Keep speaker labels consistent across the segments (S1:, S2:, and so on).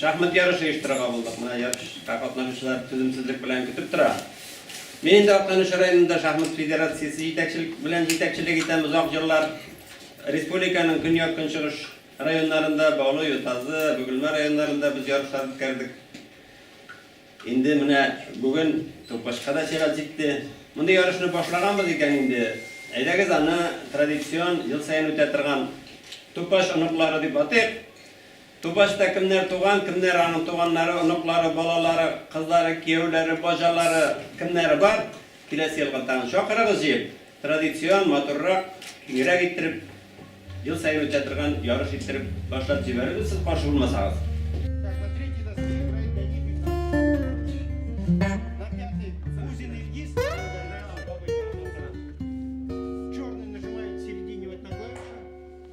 S1: Шахмат ярышы оештырырга булдык. Менә ярышка катнашучылар түземсезлек белән көтеп тора. Мин инде Актаныш районында шахмат федерациясе җитәкчелек белән җитәкчелек итәм озак еллар. Республиканың көньяк-көнчыгыш районнарында, Баулы, Ютазы, Бөгелмә районнарында без ярышлар үткәрдек. Инде менә бүген Тупашка да чират җитте. Мондый ярышны башлаганбыз икән инде, әйдәгез аны традицион, ел саен үтә торган Тупаш оныклары дип атыйк. Түбәштә кемнәр туган, кемнәр аның туганнары, оныклары, балалары, кызлары, кияүләре, баҗалары, кемнәре бар, киләсе елга тагын чакырыгыз җыеп, традицион, матуррак, киңрәк иттереп, ел саен үтә торган ярыш иттереп башлап җибәрербез, сез каршы булмасагыз.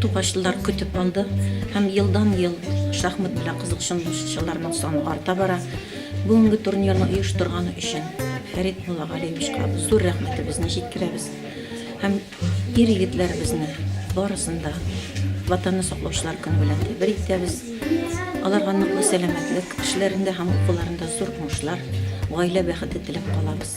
S1: Тугачлар көтеп алды һәм елдан-ел шахмат белән кызыксынучыларның саны арта бара. Бүгенге турнирны оештырганы өчен Фәрит Муллагалиевичка зур рәхмәтебезне җиткерәбез һәм ир-егетләребезне барысын да Ватанны саклаучылар көне белән тәбрик итәбез. Аларга ныклы сәламәтлек, эшләрендә һәм укуларында зур уңышлар, гаилә бәхете теләп калабыз.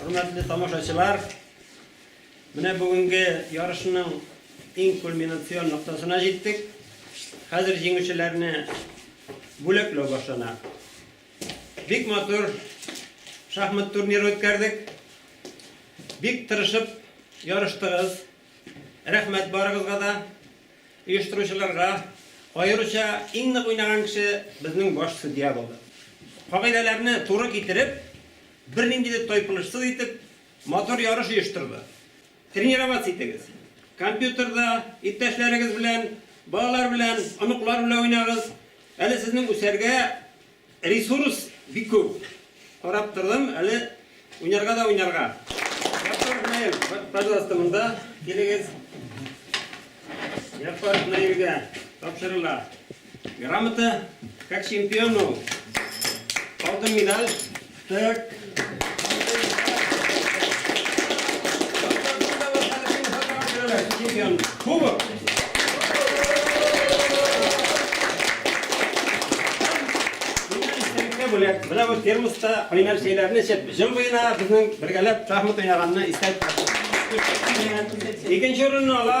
S1: Хөрмәтле тамашачылар, менә бүгенге ярышның иң кульминацион ноктасына җиттек. Хәзер җиңүчеләрне бүләкләү башлана. Бик матур шахмат турниры үткәрдек. Бик тырышып ярыштыгыз. Рәхмәт барыгызга да, оештыручыларга. Аеруча иң нык уйнаган кеше безнең баш судья булды. Кагыйдәләрне туры китереп, бернинди дә тайпылышсыз итеп, матур ярыш оештырды. Тренироваться итегез. Компьютерда иптәшләрегез белән, балалар белән, оныклар белән уйнагыз. Әле сезнең үсәргә Ресурс бик күп. Карап тордым, әле уйнарга да уйнарга. Яппаров Наил, пожалуйста, монда килегез. Яппаров Наилгә тапшырыла грамота, как чемпиону алтын медаль. бүләк, менә бу термоста кайнар чәйләрне эчеп, җым буена безнең бергәләп шахмат уйнаганны истә Икенче урынны ала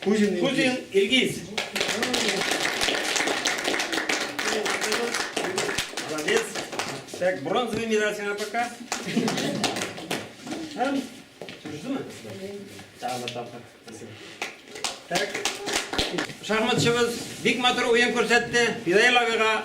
S1: Кузин Илгиз. Кузин Илгиз. Молодец. Так, бронзовый медаль сиңа пока. Һәм Чүрдеме? Тагы тапкыр. Так. Шахматчыбыз бик матур уен күрсәтте. Фидаил абыйга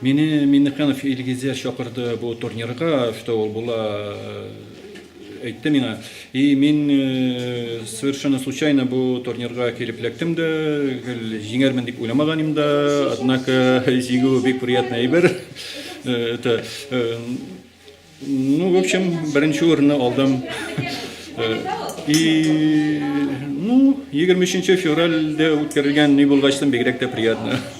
S1: Мине Миннеханов Илгизә чакырды бу турнирга, что ул була э, Әйтте миңа, и мин совершенно случайно бу турнирга килеп эләктем дә, гел җиңәрмен дип уйламаган идем дә, однако җиңү бик приятный әйбер. Это ну, в общем, беренче урынны алдым. И ну, 23 февральдә үткәрелгән ни булгач, бигрәк тә приятно.